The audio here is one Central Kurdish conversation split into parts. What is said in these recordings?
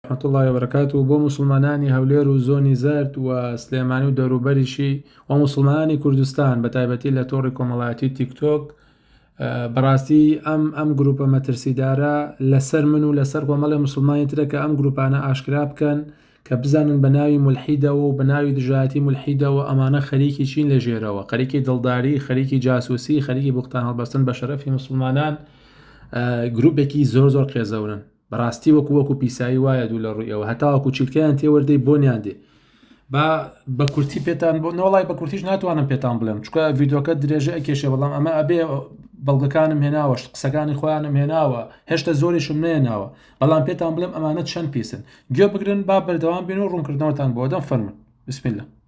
رەحمەت اللە وبەرەکاتوو بۆ موسڵمانانی هەولێر و زۆنی زەرد و سلێمانی و دەوروبەریشی و موسڵمانانی کوردستان بە تایبەتی لە تۆڕی کۆمەڵایەتی تیک تۆک بەڕاستی ئەم ئەم گروپە مەترسیدارە لەسەر من و لەسەر کۆمەڵی مسلمانی ترە کە ئەم گروپانە ئاشکرا بکەن کە بزانن بە ناوی ملحیدەوە و بە ناوی دژایەتی ملحیدەوە ئەمانە خەریکی چین لە ژێرەوە خەریکی دڵداری خەریکی جاسوسی خەریکی بختان هەڵبەستن بە شەرەفی مسلمانان گروپێکی زۆر زۆر قێزەونن بەڕاستی وەکو وەکو پیسایی وایە دوو لە ڕوویەوە هەتاوەکو چیلکەیان تێوەردەی بۆنیان دێ با بە کورتی پێتان بۆ نۆڵای بە کورتیش ناتوانم پێتان بڵێم چکە ڤیددیوکە درێژە ئەکێشێ بەڵام ئەمە ئەبێ بەڵگەکانم هێناوەش قسەکانی خۆیانم هێناوە هێشتا زۆریشم نێناوە بەڵام پێتان بڵێم ئەمانە چەند پیسن گوێ بگرن با بەردەوام بین و ڕوونکردنەوەتان بۆ دەم فەرمن بسم الله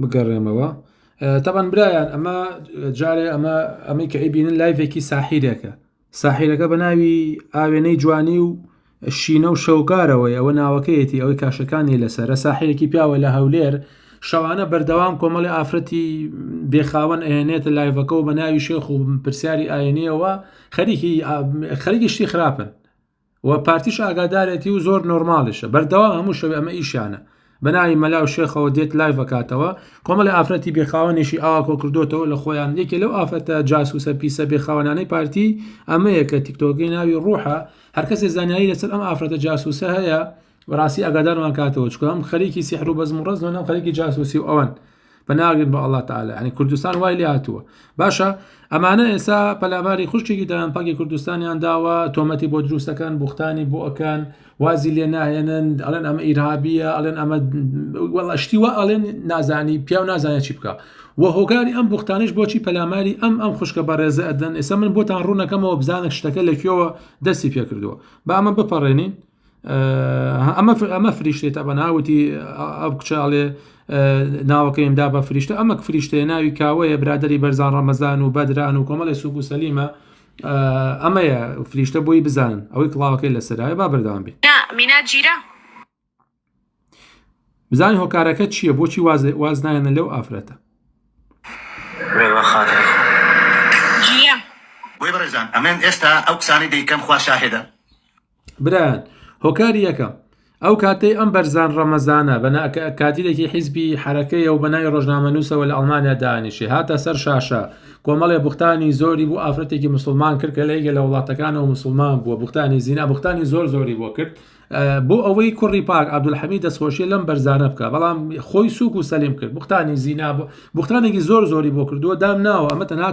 بگەڕێمەوە تەبەن برایان ئەمە جارێ ئەمە ئەمەی کە ئەیبینن لایڤێکی ساحیرێکە ساحیرەکە بە ناوی ئاوێنەی جوانی و شینە و شەوگارەوەی ئەوە ناوەکەیەتی ئەوەی کاشەکانی لەسەرە ساحیرێکی پیاوە لە هەولێر شەوانە بەردەوام کۆمەڵی ئافرەتی بێخاوەن ئەهێنێتە لایڤەکە و بە ناوی شێخ و پرسیاری ئاینیەوە خەریکی خەریکی شتی خراپن و پارتیش ئاگادارێتی و زۆر نۆرماڵیشە بەردەوام هەموو شەوێ ئەمە ئیشیانە بەناوی مەلا و شێخەوە دێت لایڤ ئەکاتەوە کۆمەڵی ئافرەتی بێخاوەنیشی ئاوا کۆکردوتەوە لە خۆیان یەکێ لەو ئافرەتە جاسوسە پیسە بێخاوەنانەی پارتی ئەمەیە کە تیکتۆگەی ناوی ڕوحە هەرکەسێ زانیاری لەسەر ئەم ئافرەتە جاسوسە هەیە بەڕاستی ئاگادارمان کاتەوە چکۆم خەریکی سیحر و بەزم و ڕەزن و خەریکی جاسوسی و ئەوەن پەناگرن بە ئەڵا تعالی ینی کوردستان وای لێ هاتووە باشە ئەمانە ئێسا پەلاماری خوشتێکی دەیان پاکی کوردستانیان داوە تۆمەتی بۆ دروستەکان بوختانی بۆ ئەکان وازی لێ ناهێنن ئەڵێن ئەمە ئیرهابیە ئەڵێن ئەمە وەڵشتی وە ئەڵێن نازانی پیا و نازانێت چی بکە و هۆکاری ئەم بوختانش بۆچی پەلاماری ئەم ئەم خوشکە بەڕێزە ئەدەن ئێستا من بۆتان ڕوونەکەمەوە بزانە شتەکە لەکوێوە دەستی پێکردووە بامە بپەڕێنین ئەمە ئەمە فریشتێت ئەمە ناوتی ئەو کچاڵێ ناوەکەیم دا بە فریشتە ئەمە فریشتێ ناوی کاوەیە برادری بەرزان ڕەمەزان و بەدران و کۆمەڵی سوک و سەلیمە ئەمەیە فریشتە بۆی بزانن ئەوەی کڵاوەکەی لەسەرایە با بەردەوام بێ مینا جیرە بزانین هۆکارەکە چیە بۆچی واز نایەنە لەو ئافرەتە. بۆیە بەڕێزان ئەمن ئێستا ئەو قسانەی دەیکەم خوا شاهێدە. برایان هۆکاری یەکەم ئەو کاتەی ئەم بەرزان ڕەمەزانە بە کادیرێکی حیزبی حرەکەیە و بەناوی ڕۆژنامەنووسەوە لە ئەڵمانیا دانیشی هاتە سەر شاشە کۆمەڵێ بوختانی زۆری بۆ ئافرەتێکی مسلمان کرد کە لە یەکێ لە وڵاتەکانەوە مسلمان بووە بوختانی زینا بوختانی زۆر زۆری بۆ کرد بۆ ئەوەی کوڕی پاک عبدولحەمی دەستخۆشیە لەم بەرزانە بکە بەڵام خۆی سوک و سەلیم کرد بختانی زینا بۆ بختانێکی زۆر زۆری بۆ کردووە دام ناوە ئەمە تەنا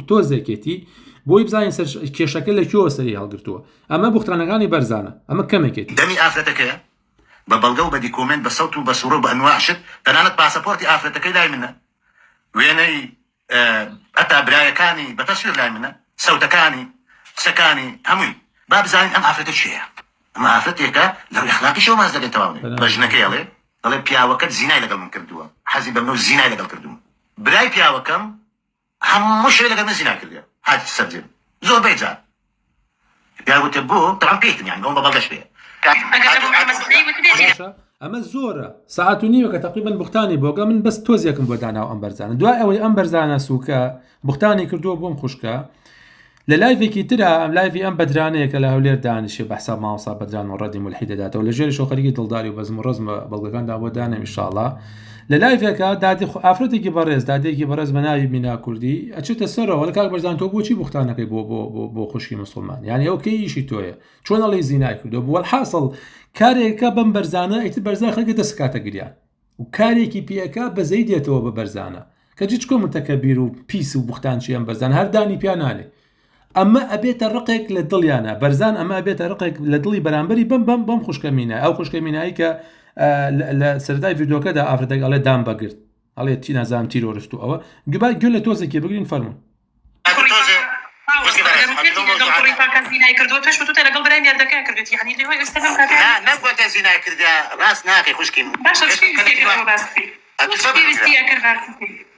تۆزێکێتی بۆی بزانین سەر کێشەکە لە کێوە سەری هەڵگرتووە ئەمە بختانەکانی بەرزانە ئەمە کەمێکێت دەمی ئافرەتەکەیە بە بەڵگە و بە دیکۆمێنت بە سەوت و بە سوڕە و بە ئەنواع شت تەنانەت پاسەپۆرتی ئافرەتەکەی لای منە وێنەی هەتا برایەکانی بە تەسویر لای منە سەوتەکانی قسەکانی هەمووی با بزانین ئەم ئافرەتە کێیە ئەمە ئافرەتێکە لەو اخلاقی شەو ماز دەبێت تەواو نێ بە ژنەکەی ئەڵێ دەڵێ پیاوەکەت زینای لەگەڵ من کردووە حەزی بە منو زینای لەگەڵ کردووم برای پیاوەکەم هەموو شەوێ لەگەڵ من زینا کردووە هات سەرجێم زۆربەی جار پێیان وتم بۆ؟ دەڵام پێیتم یانی بۆم بە بەڵگەش بێ کاک. باشە ئەمە زۆرە سەعات و نیوەکە تەقیبەن بوختانی بۆگە من بەس تۆزیەکم بۆ داناو ئەم بەرزانە دوای ئەوەی ئەم بەرزانە سووکە بوختانی کردووە بۆم خوشکە لە لایڤێکی تررا ئەم لایڤی ئەم بەدرانەیە کە لە هەولێر دانیشێ بەسا ماوەسا بەدران و ڕەدی ملحی دەداتەوە لە ژێری شۆخەرگی دڵداری و بەزم و ڕزمە بەڵگەکاندا بۆ دانێ میشاڵە لە لایڤێکا دادی خو ئافرەتێکی بەڕێز دادێکی بەڕێز بە ناوی مینا کوردی ئەچێتە سەرەوە لە کاک بەرزان تۆ بۆچی بوختانەکەی بۆ بۆ بۆ بۆ خوشکی مسلمان یعنی ئەو کەی ئیشی تۆیە چۆن ئەڵی زینای کردو بووە حاصل کارێکە بەم بەرزانە ئیتر بەرزان خەکە دەست کاتە گریان و کارێکی پێەکە بەزەی دێتەوە بە بەرزانە کە جچکۆ متەکە بیر و پیس و بوختان چیان بەرزان هەردانی پیانانێ ئەمە ئەبێتە ڕقێک لە دڵیانە بەرزان ئەمە ئەبێتە ڕقێک لە دڵی بەرامبەری بم بم بم خوشکەمینە ئەو خوشکەمینایی کە لە سەردای ڤیدۆکەدا ئافرەتێک ئەڵێ دام بەگرت ئەڵێ چی نازان تیرۆرست و ئەوە گوبا گوێ لە تۆزێکی بگرین فەرمون ڕاست ناکەی خوشکی باش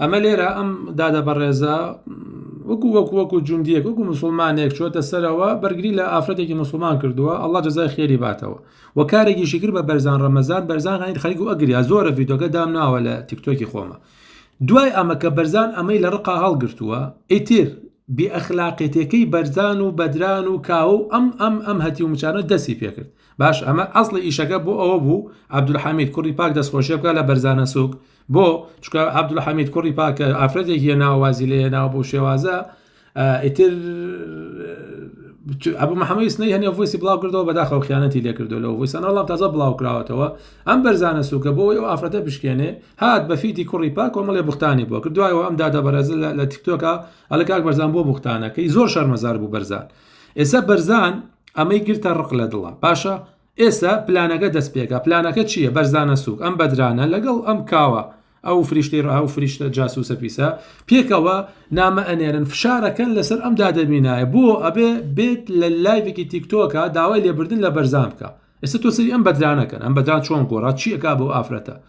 ئەمە لێرە ئەم دادە بەڕێزە وەکو وەکو وەکو جوندیەک وەکو مسلمانێک چۆتە سەرەوە بەرگری لە ئافرەتێکی مسلمان کردووە ئەڵا جزای خێری باتەوە و کارێکی شکر بە بەرزان ڕەمەزان بەرزان هەین خەریک و ئەگریا زۆرە ڤیدۆکە دام ناوە لە تیکتۆکی خۆمە دوای ئەمە کە بەرزان ئەمەی لە ڕقا هەڵگرتووە ئیتر بێ ئەخلاقێتەکەی بەرزان و بەدران و کاوە و ئەم ئەم ئەم هەتی و مچانە دەستی پێکرد باش ئەمە ئەسڵی ئیشەکە بۆ ئەوە بوو عبدولحەمید کوڕی پاک دەستخۆشیە بکە لە بەرزانە سوک بۆ؟ چکە عبدلە حەمید کوڕی پاکە ئافرەتێک یە ناوازی لێ ناوە بۆ شێوازە ئیتر ئەبوو محەممەی سنەی هەنێ ڤۆسی بڵاو کردەوە بەداخەوە خیانەتی لێکردو لەو ڤۆسان وڵام تازە بڵاو کراوەتەوە ئەم بەرزانە سوکە بۆ ئەو ئافرەتە بشکێنێ هات بەفیتی کوڕی پاک کۆمەڵێ بختانی بۆ کردوایەوە ئەم دادە بەرەز لە تیکتۆکە ئەلە کاک بەرزان بۆ بختانەکەی زۆر شەرمەزار بوو بەرزان ئێستا بەرزان ئەمەی گرتە ڕق لە دڵە باشە ئێستا پلانەکە دەست پێکا پلانەکە چییە بەرزانە سوک ئەم بەدرانە لەگەڵ ئەم کاوە ئەو فریشتی ڕها و فریشتە جاسوسە پیسە پێکەوە نامە ئەنێرن فشارەکەن لەسەر ئەم دادەمینایە بۆ ئەبێ بێت لە لایڤێکی تیکتۆکە داوای لێبردن لە بەرزان بکە ئێستا تۆ سری ئەم بەدرانەکەن ئەم بەدران چۆن گۆڕات چیەکە بۆ ئافرەتە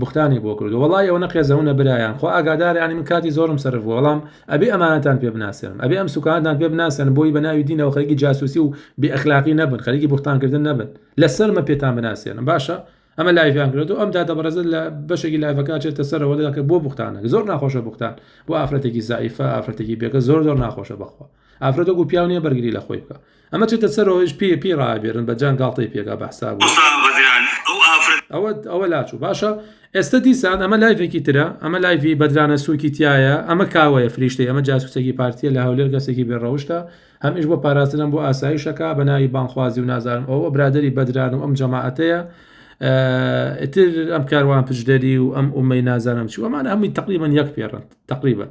بوختانی بۆ کردوە وەڵای ئەوەنە قێزەونە برایان خۆ ئاگادارە ینی من کاتی زۆرم سەرف بووە بەڵام ئەبێ ئەمانەتان پێ بناسێنم ئەبێ ئەم سوکانتان پێ بناسێن بۆی بە ناوی دینەوە خەریکی جاسوسی و بێ ئەخلاقی نەبن خەریکی بوختانکردن نەبن لەسەرمە پێتان بناسێنم باشە ئەمە لایڤیان کرێت و ئەم دادە بەڕێزت لە بەشێکی لایڤەکە چێتە سەرەوە دەکە بۆ بوختانە زۆر ناخۆشە بوختان بۆ ئافرەتێکی زعیفە ئافرەتێکی بێگە زۆر زۆر ناخۆشە بەخوا ئافرەت وەکو پیاو نییە بەرگری لە خۆی بکە ئەمە چێتە سەر ئەوەش پێ پێی ڕابێرن بە جان گاڵتەی پێگا بەحساب ئەوە ئەوە لاچوو باشە ئێستا دیسان ئەمە لایفێکی ترە ئەمە لایفی بەدرانە سوکی تایە ئەمە کاوەیە فریشتی ئەمە جاسوسێکی پارتیە لە هەولێر گەسێکی بێڕەوشتە هەمیش بۆ پاراستنم بۆ ئاسایشەکە بە ناوی بانخوازی و نازانم ئەوە برادری بەدران و ئەم جەماعەتەیە ئتر ئەم کاروان پشدەری و ئەم ئومەی نازانم چوو ئەمان ئەمی تقریبان یەک پێڕن تقریبان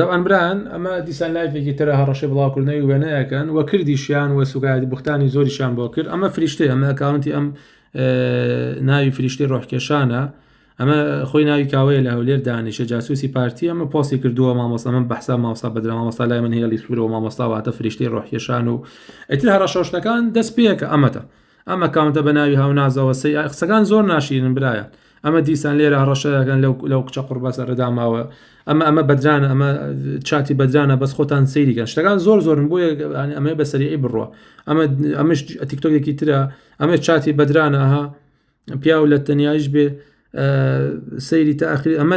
تەبعەن برایان ئەمە دیسان لایفێکی ترە هەڕەشەی بڵاوکردنەوەی وێنەیەکەن و کردیشیان و سوکایەتی بوختانی زۆریشان بۆ کرد ئەمە فریشتەی ئەمە ئەکاونتی ئەم ناوی فریشتی ڕۆحکێشانە ئەمە خۆی ناوی کاوەیە لە هەولێر دانیشە جاسوسی پارتی ئەمە پۆسی کردووە مامۆستا من بەحسا ماوسا بەدرا مامۆستا لای من هێڵی سوورە و مامۆستاواتە فریشتی ڕۆحکێشان و ئەتر هەڕەشەشتەکان دەست پێکە ئەمەتە ئەمە کاونتە بە ناوی هاونازەوە سەی قسەکان زۆر ناشیرن برایە ئەمە دیسان لێرە هەڕەشە دەکەن لەو لەو کچە قڕبەسە ڕدا ماوە ئەمە ئەمە بەدرانە ئەمە چاتی بەدرانە بەس خۆتان سەیریکە شتەکان زۆر زۆرن بۆ ئەمە بە سەریعی بڕە ئەمە ئەمش ئەتیکتۆکێکی ترە ئەمە چاتی بەدرانە ها پیاو لە تەنیایش بێ سەیری تاخری ئەمە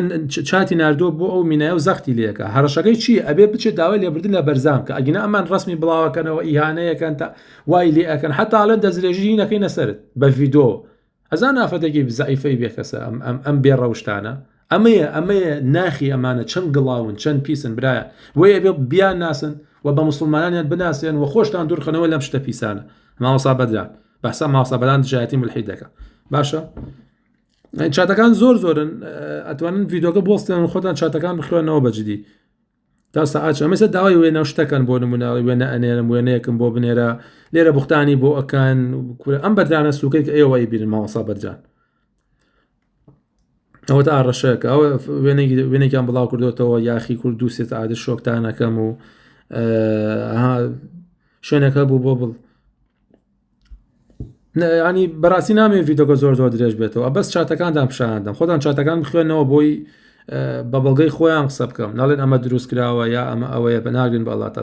چاتی نردۆ بۆ ئەو مینای و زەختی لەکە هەرشەکەی چی ئەبێ بچێت داوای لێبردن لە بەرزام کە ئەگینا ئەمان ڕسمی بڵاوەکەنەوە ئیهانەیەکەن تا وای لێ ئەەکەن حتاالە دەستێژی نەکەی نەسرت بە ڤیدۆ ئەزان ئافەتەکی زەعیفەی بێکەسە ئەم ئەم ئەم بێ ڕەوشتانە ئەمەیە ئەمەیە ناخی ئەمانە چەند گڵاون چەند پیسن برایە وەیە بێ بیان ناسن و بە مسلمانانیان بناسێن و خۆشتان دوورخەنەوە لەم شتە پیسانە ماوەسا بەدران بەسا ماوەسا بەدان دژایەتی ملحی دەکە باشە چاتەکان زۆر زۆرن ئەتوانن ڤیددیوگە بۆستێن خۆتان چاتەکان بخوێنەوە بەجددی تا سەعات ئەمەسە داوای وێنە و شتەکەن بۆ نمونە وێنە ئەنێرم وێنەیەکم بۆ بنێرە لێرە بوختانی بۆ ئەکەن کورە ئەم بەدرانە سوکەی کە ئێوەی بیرن ماوەسا بەدران ئەوە تا ڕەشەکە ئەوە وێنێکیان بڵاو کردوێتەوە یاخی کورد دو سێت عادە شۆکتانەکەم و شوێنەکە بوو بۆ بڵ ینی بەڕاستی نامێ ڤیددیوگە زۆر زۆر درێژ بێتەوە بەس چاتەکانتان پیشاندەم خۆتان چاتەکان بخوێنەوە بۆی بە بەڵگەی خۆیان قسە بکەم ناڵێن ئەمە دروست کراوە یا ئەمە ئەوەیە بە ناگرن بەڵات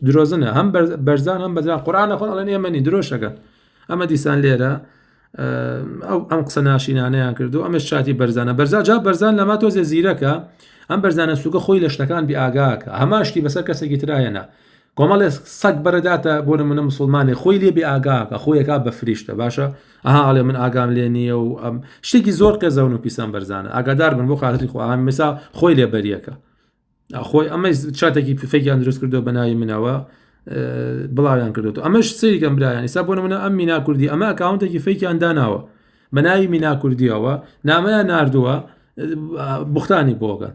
درۆزنە هەم بەرزان هەم بەدران قورانە خۆ ئەڵێن ئێمەنی درۆشەکەن ئەمە دیسان لێرە ئەو ئەم قسە ناشینانەیان کردو ئەمە شاتی بەرزانە بەرزا جا بەرزان لەما تۆزێ زیرەکە ئەم بەرزانە سوگە خۆی لە شتەکان بی ئاگاکە هەماشتی بەسەر کەسێکی تراهێنا کۆمەڵێ سەگ بەرەداتە بۆ نمونە مسلمانێ خۆی لێ بێ ئاگاکە خۆیەکە بە فریشتە باشە ئەها ئەڵێ من ئاگام لێ نییە و ئەم شتێکی زۆر قێزەون و پیسان بەرزانە ئاگادار بن بۆ خاتری خۆیان مسا خۆی لێ بەریەکە خۆی ئەمە چاتێکی پفێکیان دروست کردو بە ناوی منەوە بڵاویان کردو ئەمەش سریکەم برایان ئیسا بۆ منە ئەم مینا کوردی ئەمە ئەکاونتێکی فێکیان داناوە بە ناوی مینا کوردیەوە نامەیان نردووە بختانی بۆگەن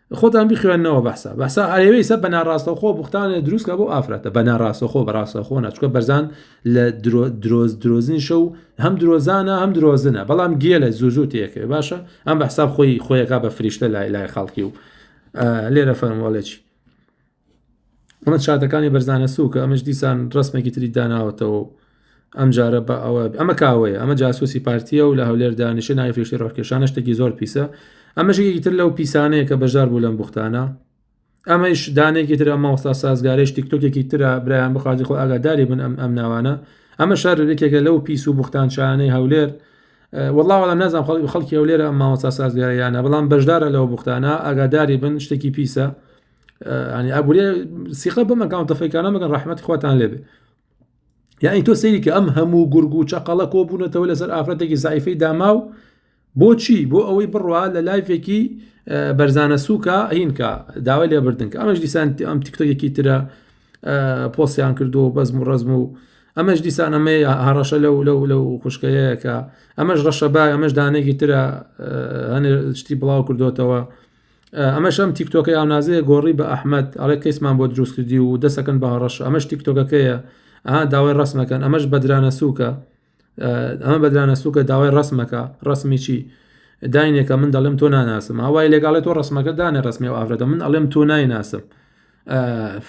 خۆتان بخوێنەوە بەسا بەسا ئەوەیسە بە ناڕاستەخۆ بختانە دروستکە بۆ ئافرەتە بە ناڕاستەخۆ بەڕاستەخۆ ناچکە بەرزان لە درۆز درۆزنی شەو هەم درۆزانە هەم درۆزنە بەڵام گێلە زوو زوو تێکێ باشە ئەم بەحساب خۆی خۆیەکە بە فریشتە لای لای خەڵکی و لێرە فەرمۆڵێکی ئەمە چاتەکانی بەرزانە سووکە ئەمەش دیسان ڕسمێکی تری داناوەتەوە ئەم جارە بە ئەوە ئەمە کاوەیە ئەمە جاسوسی پارتیە و لە هەولێر دانیشە نای فێشتی ڕۆکێشانە شتێکی زۆر پیسە ئەمەشێکی تر لەو پیسانەیە کە بەشدار بوو لەم بختانە ئەمەش دانێکی تر ئەمە وەستا سازگارێش تیکتۆکێکی تررا برایان بخوازی خۆ ئاگاداری بن ئەم ئەم ناوانە ئەمە شار یەکێکە لەو پیس و بختان شانەی هەولێر وڵاوەڵە نازان خەڵکی خەڵکی هەولێرە ئەم ماوەستا سازگاریانە بەڵام بەشدارە لەو بختانە ئاگاداری بن شتێکی پیسە ئەنی ئابووری سیخە بەم ئەکاونتە فەیکانە مەگەن ڕحمەت خواتان لێبێ یعنی تۆ سەیری کە ئەم هەموو گورگ و چەقەڵە کۆ بوونەتەوە لەسەر ئافرەتێکی زایفەی داما و بۆچی بۆ ئەوەی بڕوا لە لایفێکی بەرزانە سووکە هینکە داوای لێبردن کە ئەمەش دیسان ئەم تیکتۆکێکی ترە پۆسیان کردو و بەزم و ڕزم و ئەمەش دیسان ئەمەی هەڕەشە لەو لەو لەو خوشکەیەکە ئەمەش ڕەشەبا ئەمەش دانێکی ترە هەنێ شتی بڵاو کردوتەوە ئەمەش ئەم تیکتۆکە یاونازەیە گۆڕی بە ئەحمد ئەڵێ کەیسمان بۆ دروست کردی و دەسەکەن بە هەڕەش ئەمەش تیکتۆکەکەیە ئا داوای ڕسمەکەن ئەمەش بەدرانە سووکە ئەمە بەدرانە سووکە داوای ڕسمەکە ڕسمی چی داینێکە من دەڵێم تۆ ناناسم هاوای لێگاڵێت تۆ ڕسمەکە دانێ ڕسمی و ئافرەتە من ئەڵێم تۆ نایناسم ئاف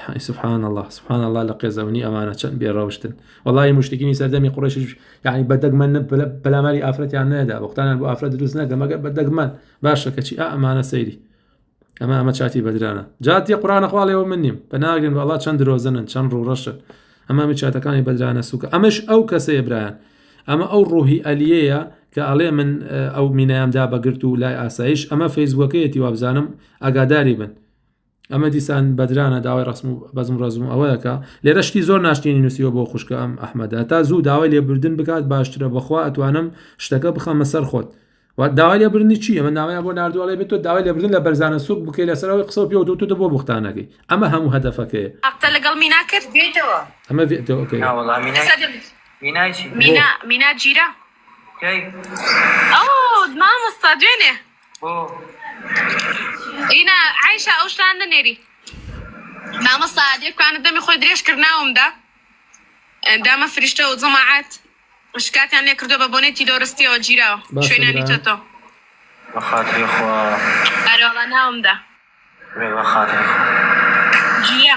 حەی سبحان اللە سبحان اللە لە قێزەونی ئەمانە چەند بێ ڕەوشتن وڵی مشتکیی سەردەمی قڕێشش یعنی بە دەگمەن پەلاماری ئافرەتیان نەدا وەختانان بۆ ئافرەت دروست نەکە مەگە بە دەگمەن باشە کەچی ئەمانە سەیری ئەمە ئەمە چاتی بەدرانە جاتی قڕانە خواڵەوە من نیم بە ناگرن بەڵا چەند درۆزنن چەند ڕوڕەشن ئەمە من چاتەکانی بەدرانە سوکە ئەمەش ئەو کەسەیە برایان ئەمە ئەو ڕوحی ئەلیەیە کە ئەڵێ من ئەو مینایامدا بەگرت و لای ئاسایش ئەمە فەیسبووەکەیەتی وابزانم ئاگاداری بن ئەمە دیسان بەدرانە داوای ڕسم و بەزم ڕزم و ئەوەیەکە لێرە شتی زۆر ناشتێنی نووسیوە بۆ خوشکە ئەم ئەحمەدا تا زوو داوای لێبوردن بکات باشترە بەخوا ئەتوانم شتەکە بخەمە سەر خۆت داوای لێبرنی چی ئەمە ناوایە بۆ نردوواڵی بێت تۆ داوای لێبردن لە بەرزانە سوک بکەی لەسەرەوەی قسە پێ دو تۆ بۆ بختانەکەی ئەمە هەموو هەدەفەکەیە قسە لەگەڵ مینا کرد بێتەوە ئەمە مینا جیرە مامۆستا دوێنێ ئینا عیشا ئەو شتان نەنێری مامۆستا دێکانە دەمی خۆی درێژ کرد ناومدا دامە فریشتە و جەماعات شکاتیان لێ کردو بە بۆنەی تیرۆرستیەوە گیراوە باشە شوێنانی برا. تۆتۆ بەخاتری خوا ئەرەوە ناومدا بێ بەخاتری خوا. جیە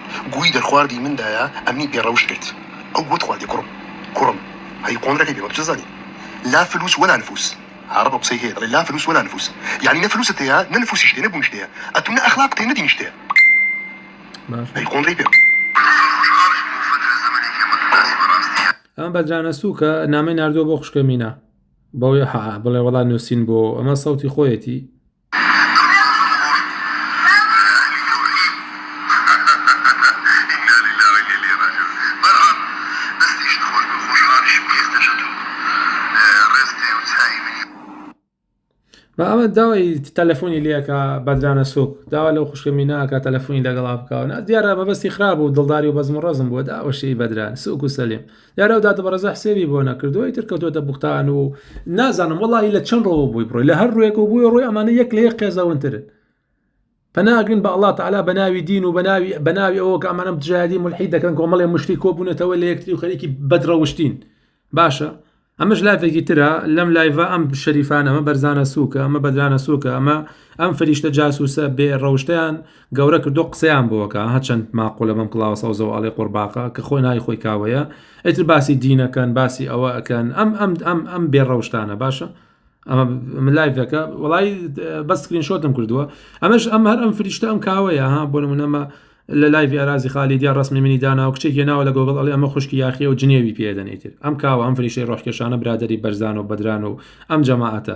گووی دەرخواردی من دایە ئەمنی بێ ڕەوشت کرد ئەو گووت خواردی کوڕم کوڕم هەی قۆندرەکەی بێ مەبجە زانی لا فلوس ولا نفوس عەڕەب ئەو قسەی هەیە دەڵێ لا فلوس ولا نفوس یانی نە فلوست هەیە نە نفوسیشت هەیە نە بوونشت هەیە ئەتوو نە ئەخلاقت هەیە نە دینیشت هەیە هەی قۆندرەی پێ. ئەمە بە جانەسووکە نامەی ناردووە بۆ خوشکە مینا بەوەی حەعە بڵێ وەڵا نووسین بۆ ئەمە سەوتی خۆیەتی بە ئەمە داوای تەلەفۆنی لەکە بەدرانە سوک داوا لەو خوشکە میناکە تەلەفۆنی لەگەڵا بکەوە دیارە مەبەستی خراپ و دڵداری و بەزم و ڕزم بووە داوەشی بەدران سوک و سەلیم دیارە و دادە بەڕێزە حسێبی بۆ نەکردو ئیتر کەوتۆتە بوختان و نازانم وڵی لە چەند ڕۆوە بووی بڕۆی لە هەر ڕوێک و بووی ڕۆی ئەمانە یەک لە یەک قێزەونترن پەناگرن بە الله تعالا بە ناوی دین و بەناوی بەناوی ئەوە کە ئەمانم دژایدی ملحی دەکەن کۆمەڵێ مشتی کۆبوونەتەوە لە یەکتری و خەریکی بەدڕەوشتین باشە ئەمەش لافێکی ترە لەم لایڤە ئەم شەریفانەمە بەرزانە سووکە ئەمە بەدرانە سووکە ئەمە ئەم فریشتە جاسوسە بێ ڕەوشتیان گەورە کردو قسەیان بۆکە هە چەند ماقولە بەم کڵاوە سەوزەوە ئەڵێ قۆڕباقە کە خۆی ناوی خۆی کاوەیە ئیتر باسی دینەکەن باسی ئەوە ئەکەن ئەم ئەم ئەم ئەم بێ ڕەوشتانە باشە ئەمە ملایڤەکە وڵی بە سکرین شۆتم کردووە ئەمەش ئەم هەر ئەم فریشتە ئەم کاوەیە ها بۆ نمونەمە لە لایڤی ئارازی خالی دیا ڕسمی منی دانا و کچێکی ناوە لە گۆگڵ ئەڵێ ئەمە خوشکی یاخی و جنێوی پێدەنیتر ئەم کاوە ئەم فریشەی ڕۆحکێشانە برادری بەرزان و بەدران و ئەم جەماعەتە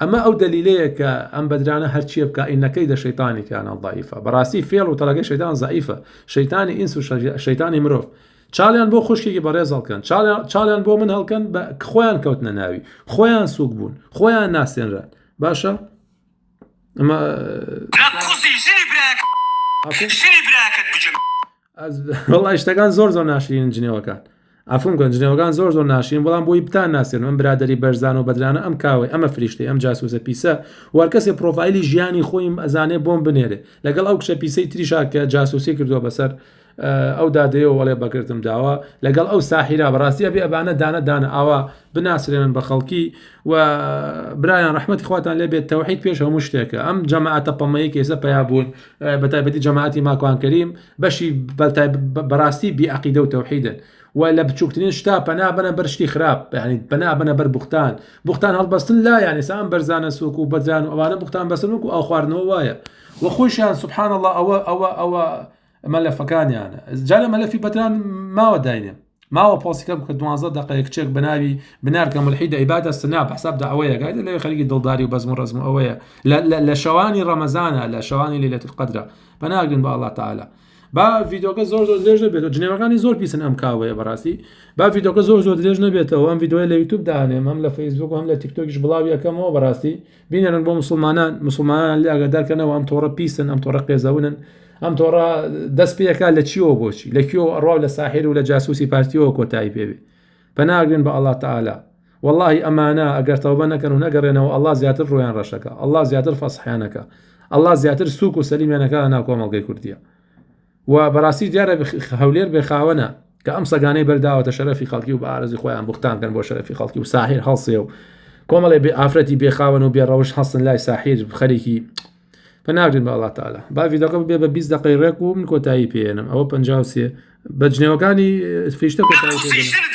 ئەمە ئەو دەلیلەیە کە ئەم بەدرانە هەرچیە بکا ئینە کەیدە شەیتانی کانە ضعیفە بەڕاستی فێڵ و تەڵەکەی شەیتان زعیفە شەیتانی ئینس و شەیتانی مرۆڤ چاڵیان بۆ خوشکێکی بەڕێز هەڵکەن چاڵیان بۆ من هەڵکەن بە خۆیان کەوتنە ناوی خۆیان سوک بوون خۆیان ناسێنران باشە ئەمە ژنی براکەت بجم وڵا شتەکان زۆر زۆر ناشرین جنێوەکان ئەفم گەن جنێوەکان زۆر زۆر ناشرین بەڵام بۆی بتان ناسێن ئەم برادری بەرزان و بەدرانە ئەم کاوەی ئەمە فریشتی ئەم جاسوسە پیسە وەرکەسێ پرۆفایلی ژیانی خۆیم ئەزانێ بۆم بنێرێ لەگەڵ ئەو کچە پیسەی تریشا کە جاسوسی کردووە بەسەر ئەو دادەیە وڵێ بەکردم داوە لەگەڵ ئەو ساحیرا بەڕاستی ئەبێ ئەبانە دانە دانە ئاوا بناسرێنن بە خەڵکی و برایان ڕحمەتی خواتان لێبێت تەوحید پێش هەموو شتێکە ئەم جەماعەتە پەمەیە کێسە پیا بوون بەتایبەتی جەماعەتی ماکوان کەریم بەشی بەڕاستی بیعقیدە و تەوحیدن و لە بچووکترین شتا پەنا بەنە بەر شتی خراپ بەهنیت پەنا بەنە بەر بوختان بوختان هەڵبەستن لا یانە سام بەرزانە سوک و بەدران و ئەوانە بوختان بەسن وکو ئەو خواردنەوە وایە و خۆشیان سبحان الله ئەوە ئەوە ئەوە مەلەفەکانیانە جارە مەلەفی بەدران ماوە داینێ ماوە پۆسیکە بکە دوانزە دقەیە کچێک بەناوی بنارکە ملحی دەیباتە سنا بەساب داوەیە گای لەوێ خەریکی دڵداری و بەزم و ڕزم ئەوەیە لە شەوانی ڕەمەزانە لە شەوانی لە لەتر قدرە بەناگرن بە ئەڵا تعاالە با ڤیدۆکە زۆر زۆر درێژ نەبێت جنێوەکانی زۆر پیسن ئەم کاوەیە بەڕاستی با ڤیدۆکە زۆر زۆر درێژ نەبێتەوە ئەم ڤیددیوە لە یوتوب دانێم ئەم لە فەیسبوک هەم لە تیکتۆکیش بڵاویەکەمەوە بەڕاستی بینێرن بۆ مسلمانان مسلمانان لێ ئاگادار کەنەوە ئەم تۆڕە پیسن ئەم تۆڕە قێزەونن ئەم تۆڕە دەست پێەکە لە چیەوە بۆچی لە کیۆ ئەڕاو لە ساحێر و لە جاسوسی پارتیەوە کۆتایی پێوێ پەناگرن بە ئەڵا تەعالا واللهی ئەمانە ئەگەر تەوبە نەکەن و نەگەڕێنەوە ئەڵا زیاتر ڕۆیان ڕەشەکە ئەڵا زیاتر فەسحیانەکە ئەڵا زیاتر سوک و سەلیمێنەکە ناو کۆمەڵگەی کوردیە و بەڕاستی دیارە هەولێر بێ خاوەنە کە ئەم سەگانەی بەرداوەتە شەرفی خەڵکی و بە ئارزی خۆیان بختان کەن بۆ شەرفی خەڵکی و ساحیر هەڵسێ و کۆمەڵێ بێ ئافرەتی بێخاوەن و بێڕەوش هەستن لای ساحیر خەرێکی پەناگرین بە وڵاتاالە باوی دەقە بێ بە 20 دقی ڕێک و من کۆتایی پێێنم ئەوە پ سێ بە جنێوەکانی فیشتە کۆتایی پێێنم